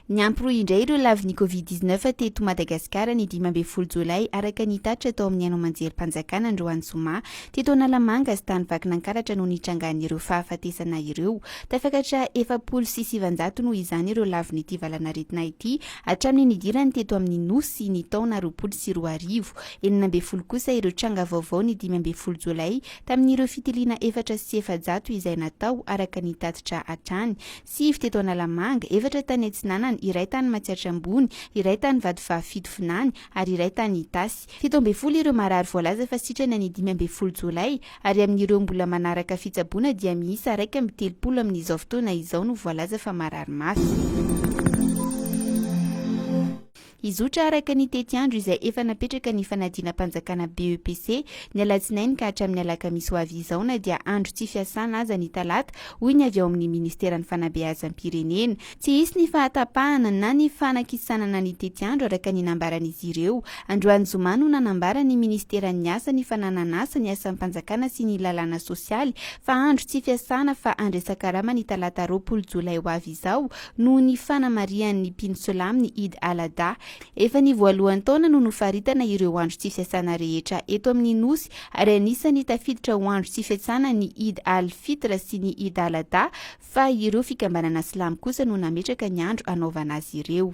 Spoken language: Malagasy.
Niampy indray ireo lavin'ny Covid 19 teto Madagasikara ny dimy ambin'ny folo jolay araka ny tatitra tao amin'ny haino aman-jerim-panjakana androany zoma teto Analamanga sy tany Vakinankaratra no nitrangan'ireo fahafatesana ireo. Tafakatra efapolo sy sivanjato noho izany ireo lavin'ity valanaretina ity hatramin'ny nidirany teto amin'ny Nosy ny taona roapolo sy roa arivo. Enina ambin'ny folo kosa ireo tranga vaovao ny dimy ambin'ny folo jolay tamin'ireo fitiliana efatra sy efajato izay natao araka ny tatitra hatrany, sivy teto Analamanga, efatra tany Atsinanana, iray tany Matsiatra Ambony, iray tany Vatovavy fito Vinany ary iray tany Itasy. Fito ambin'ny folo ireo marary voalaza fa sitrana ny dimy ambin'ny folo jolay ary amin'ireo mbola manaraka fitsaboana dia miisa iraika amby telopolo amin'izao fotoana izao no voalaza fa marary mafy. Hizotra araka ny tetiandro izay efa napetraka ny fanadinam-panjakana BEPC, ny alatsinainy ka hatramin'ny alakamisy ho avy izao na dia andro tsy fiasana aza ny talata, hoy ny avy ao amin'ny ministeran'ny fanabeazam-pirenena. Tsy hisy ny fahatapahana na ny fanakisanana ny tetiandro araka ny nambaran'izy ireo. Androany zoma no nanambara ny ministeran'ny asa ny fananan'asa, ny asam-panjakana sy ny lalàna sosialy fa andro tsy fiasana fa handresan-karama ny talata roapolo jolay ho avy izao noho ny fanamarihan' ny mpino silamo ny Eid al-Adha. Efa ny voalohan'ny taona no nofaritana ireo andro tsy fiasana rehetra eto amin' ny Nosy, ary anisan'ny tafiditra ho andro tsy fiasana ny Eid al-Fitr sy ny Eid al-Adha, fa ireo fikambanana silamo kosa no nametraka ny andro hanaovana azy ireo.